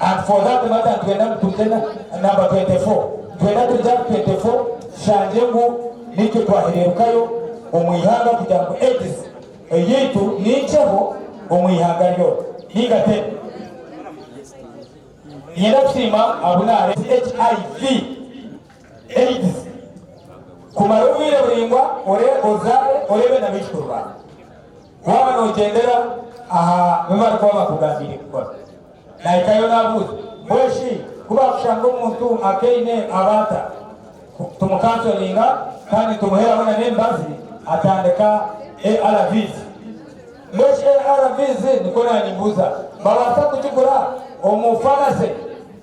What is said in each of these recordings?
And for that matter nitwenda ngu turye na number twenty four, nitwenda turye aha twenty four tushangye ngu nikyo twahererukayo omu ihanga kugira ngu Aids eyaitu ninkyeho omu ihanga ryona ninga teri. Ninyenda kusiima abu naareetera HIV, Aids, kumara obwire buraingwa ore ozaare oreebe nabaijukur baawe. Waaba noogyendera aha bi barikuba bakugambiire kukora, nahikayo naabuuza ngu, Eshi ku baakushanga omuntu akaine aba ata? Tumukansoringa kandi nitumuheeraho n'emibazi. Atandika, ARVs. Ngu eshi ARVs? Nikwo naanyimbuuza, Mbabaasa kugigura omu faamase?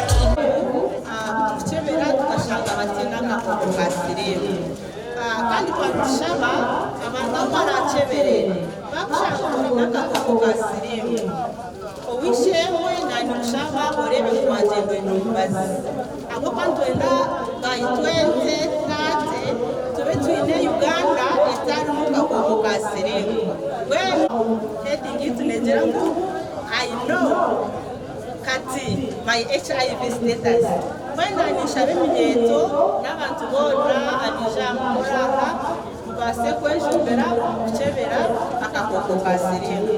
Ekizibu ahabw'okukyebera tukashanga bataine akakooko ka siriimu. Kandi twaba nitushaba abantu abu baraakyebere, baakushanga ngu oine akakooko ka siriimu, owisherwe naanikushaba oreebe ngu waagyendwa oine omubazi. Ahabw'okuba nitwenda by 2030 tube twine Uganda etarimu kakooko ka siriimu. Mbwenu heading ei tuneegyera ngu I know. Kati my HIV status. Mbwenu ninshaba eminyeeto n'abantu boona abaija aha mukoro aha mubaase kwenjumbira omu kukyebera akakooko ka siriimu.